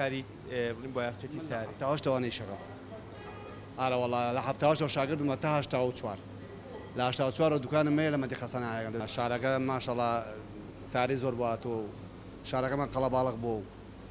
کاری بڵین بۆ یاخچێتی ساری تاواش توانەی شەڕە ئارەوەڵا لە هەفتاوەشەوە شاگردمە تا هەشتا و چوار لە هەشتا و چوارەوە دوکانم مەیە لە مەدی خەسەنایەگە لە شارەکە ماشەڵا ساری زۆر بواتۆ شارەکەمان قەڵە باڵق بۆ و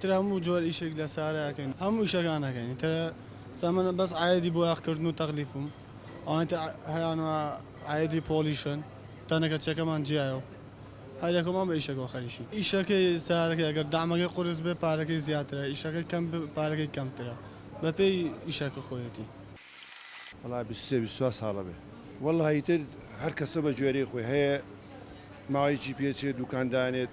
تر هەموو جۆر ئیشێک لە سارا ئەکەین هەموو ئیشەکان ئەکەین تر سا من بەس عایدی بۆ ئاخ کردن و تەغلیفم ئەوانە تر هەیان و عایدی پۆڵیشن تەنەکە چەکەمان جیایە و هەر یەکەمان بە ئیشەکەوە خەریکین ئیشەکەی سارەکەی ئەگەر دەعمەکەی قورس بێ پارەکەی زیاترە ئیشەکەی کەم بێ پارەکەی کەمترە بە پێی ئیشەکە خۆیەتی. وەڵا بیست و سێ بیست و چوار ساڵە بێ وەڵا ئیتر هەر کەسە بە گوێرەی خۆی هەیە ماوەیەکی پێ چێ دوکان دانێت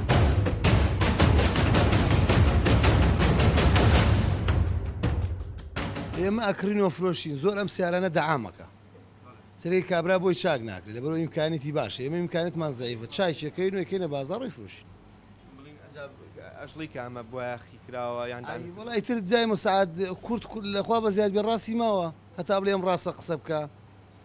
ئێمە ئەکرین وەفرۆشین زۆر ئەم سیارانە دەعامەکە سری کابرا بۆی چاک ناکرێت لە بەرەوە ئیمکانێتی باش ئێمە ئیمکانێتمان زیفە چایچەکەین وەکەینە بازاڕی فرۆشین ئەشڵی کامە بۆیاخی کراوە یان وڵی تر جای مساعد کورت کورد لەخوا بە زیاد بێ ڕاستی ماوە هەتا بڵێم ڕاستە قسە بکە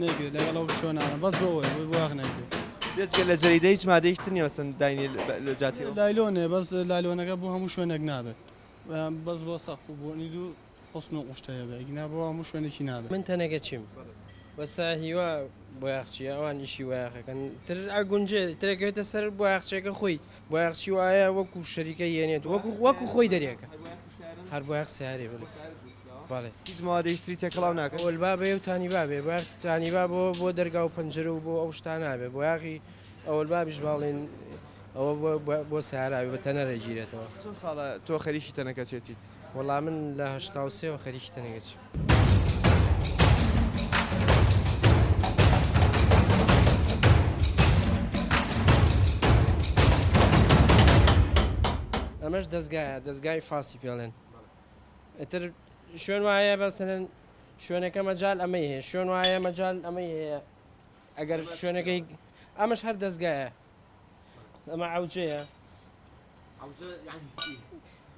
نەیکرێت لەگەڵ ئەو شوێنانە بەس بۆ ئەوەیە بۆی واخ نەکرێت بێت جگە لە جەریدە هیچ مادەیش تر نیە مەسەن داینی لە- لە جاتی ئەو. لایلۆنێ بەس لایلۆنەکە بۆ هەموو شوێنێک نابێت یان بەس بۆ سەقف و بۆنی دوو حوسن و قوشتە هەیە بێت ئیگنا بۆ هەموو شوێنێکی نابێت. من تەنەکە چیم وەستا هیوا بۆیاخ چیە ئەوان ئیشی وەیاخەکەن تر ئەگونجێ ترەکەوێتە سەر بۆیاخچێکە خۆی بۆیاخچی وایە وەکو شەریکە یەنێت وەکو وەکو خۆی دەرێکە هەر بۆیاخ سارێ بڵێ بەڵێ هیچ موادێکی تری تێکەڵاو ناکەن ئەوەل بابێ و تانی بابێ بار تانی با بۆ بۆ دەرگا و پەنجرە و بۆ ئەو شتان نابێ بۆ یاغی ئەوەل بابیش باڵێن ئەوە بۆ- بۆ- بۆ ساراوی بە تەنەرە گیرێتەوە چەند ساڵە تۆ خەریکی تەنەکەچێتیت وەڵا من لە هەشتا و سێوە خەریکی تەنەگەچ ئەمەش دەستگایە دەستگای فاسی پێڵێن ئیتر شوێن وایە بەسەن شوێنەکە مەجال ئەمەی هەیە شوێن وایە مەجال ئەمەی هەیە ئەگەر شوێنەکەی ئەمەش هەر دەستگایە ئەمە عوجەیە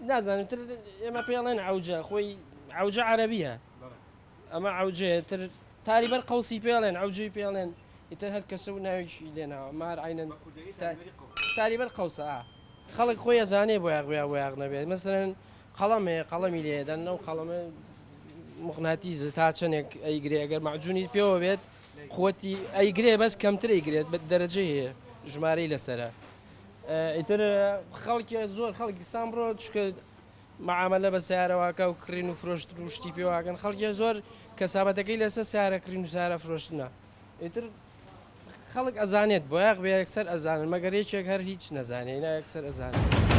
نازانم تر ئێمە پێڵێن عوجە خۆی عوجە عەربیە ئەمە عەوجەیە تر تاری بەر قەوسی پێڵێن عەوجەی پێڵێن ئیتر هەر کەسە و ناوێکی لێناوە مار عینەن تاری بەر قەوسە خەڵک خۆی ئەزانێ بۆ یاغویا بۆ یاغ نەبێت مەسەرەن قەڵەمەیە قەڵەمی لێدەن لەو قەڵەمە مخناتیز تا چەندێک ئەیگرێ ئەگەر مەعجونی پێوە بێت خۆتی ئەیگرێ بەس کەمتر ئەیگرێت بە دەرەجە هەیە ژمارەی لەسرە ئیتر خەڵکی زۆر خەڵکستان بڕۆ چکە معامەلە بە سەیارە واکا و کڕین و فرۆشتن و شتی پێ واکەن خەڵکیان زۆر کەسابەتەکەی لەسەر سەیارە کڕین و سەیارە فرۆشتنە ئیتر خەڵک ئەزانێت بۆیاق بێ یەکسەر ئەزانن مەگەر یەکێک هەر هیچ نەزانێ نا یەکسەر ئەزانێت.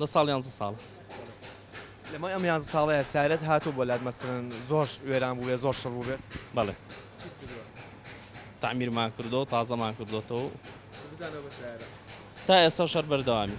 دە ساڵ یانزە ساڵ لەمای ئەم یانزە ساڵەیە سارەت هاتو بۆ لات مەسەن زۆر وێران بووێ زۆر شڕ بووێت بەڵێ تعمیرمان کردو تازەمان کردوەوە تا ئێستا شەر بەردەوامی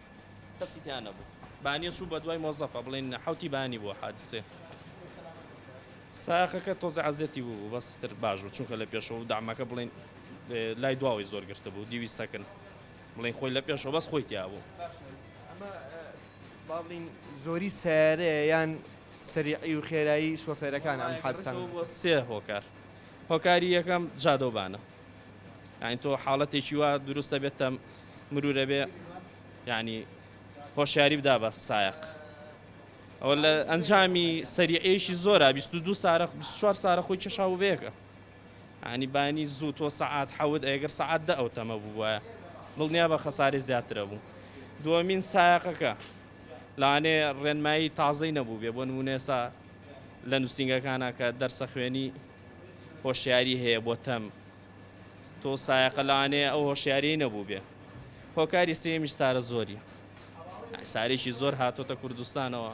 کەسی تیا نەبوو بانیە چوو بە دوای مۆزەفە بڵین حوتی بانی بۆ حادسێ ساقەکە تۆزە عزیەتی بوو بەستر باش بوو چونکە لە پێشەوە و دامەکە بڵین لای دواوەی زۆر گرتە بوو دیوی سەکن بڵین خۆی لە پێشەوە بەس خۆی تیا بوو باڵین زۆری سارەیە یان سەریعی و خێرایی شۆفێرەکان ئەم حادسان سێ هۆکار هۆکاری یەکەم جادەوبانە ئاین تۆ حاڵەتێکی وا دروستە بێتە مرور ئەبێ یعنی هۆشیاری بدا بە سایق ئەوە لە ئەنجامی سەریعێشی زۆرە 22 سارە 24 سارە خۆی چەشا و بەیەکە ئانی بانی زوو تۆ سەعات حەوت ئەگەر سەعات دە ئەو تەمە بووە دڵنیا بە خەساری زیاترە بوو دووەمین سایقەکە لانێ ڕێنمایی تازەی نەبوو بێ بۆ نمونێسا لە نووسنگەکانە کە دەرسە خوێنی هۆشیاری هەیە بۆ تەم تۆ سایەقە لەوانەیە ئەو هۆشیاریی نەبووبێ هۆکاری سێمیش سارە زۆری سارێکی زۆر هاتۆتە کوردستانەوە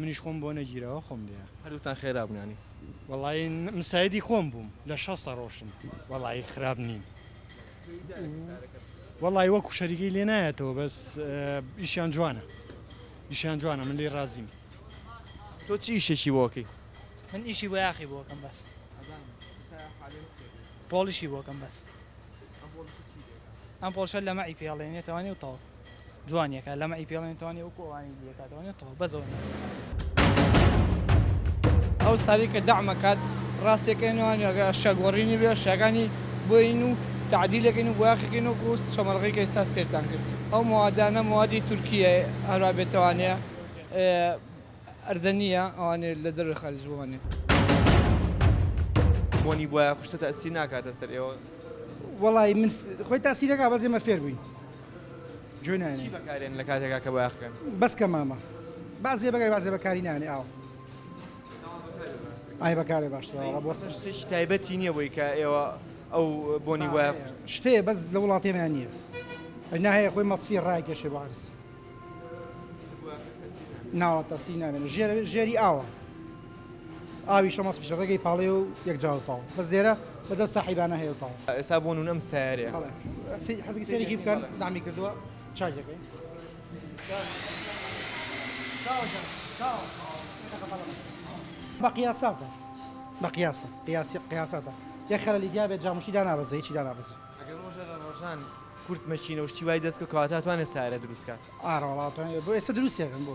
منیش خۆم بۆ نەگیراوە خۆم لێیە. هەردووکتان خێرا بوون یانی. وەڵایی مساعیدی خۆم بووم لە شەستە ڕۆشتم. وەڵایی خراپ نیم. وەڵایی وەکو شەریکەی لێ نایەتەوە بەس ئیشیان جوانە ئیشیان جوانە من لێ ڕازیم. تۆ چی ئیشێکی بۆ ئەکەی؟ من ئیشی بۆیاخی بۆ ئەکەم بەس. پۆڵیشی بۆ ئەکەم بەس. ئەم پۆڵشە لەمەعی پێڵێنێتەوانی و تەواو. جوان یەکا لەمە ئی پێڵێن توانێ وەکو ئەوانی دیە کاتوانێت تۆ بەس ئەوە ناکات. ئەو سالی کە دەعمە کات ڕاستەکەی نوانی ئەگە شە گۆڕینی بێ شەکانی بۆین و تەعدیلەکەین و بۆیاخەکەین و کوست چەمەڵغی کە ئیسا سێرتان کرد ئەو موادانە موادی تورکییە هەروا بێ توانێ ئەردەنییە ئەوانێ لە دەرۆی خارج بۆمانێ. بۆنی بۆیاخوستە تەئسیر ناکاتە سەر ئێوە؟ وەڵایی من خۆی تەئسیر ئەکا بەس ئێمە فێر بووین. چی بەکارێنن لە کاتێکا کە بۆیاخ کەن؟ بەس کە مامە با زێ بەگەر بازێ بەکاری نانێ ئاو ئای بەکارێ باشترە بۆ سەر شتێکی تایبەتی نییە بۆی کە ئێوە ئەو بۆنی وایە شتەیە بەس لە وڵاتێمیان نییە ئەنا هەیە خۆی مەسفی ڕایکێشێ بۆ عرس ناوە تەسی نامێنە ژێری ئاوە ئاوی شەمەس پیشە ڕێگەی پاڵێ و یەک جا و تاڵ بەس لێرە بە دەست ساحیبانە هەیە و تاڵ. ئێستا بۆ نون ئەم سەیارەیە. بەڵێ سی حەزەکی سەیرێکی بکەن دامی کردووە چاکی دەکەین. بە قیاساتە بە قیاسە قیاسی قیاساتە یەک خەلەلی تیا بێت جاموشتی دانابەزێ هیچی دانابەزێ. ئەگەر ڕۆژێ لە ڕۆژان کورت مەکینە و شتی وای دەست کەوت کەواتە ئەتوانێ سەیارە دروست کات؟ ئارە وەڵا ئەتوانێ بۆ ئێستا دروستی ئەکەن بۆ.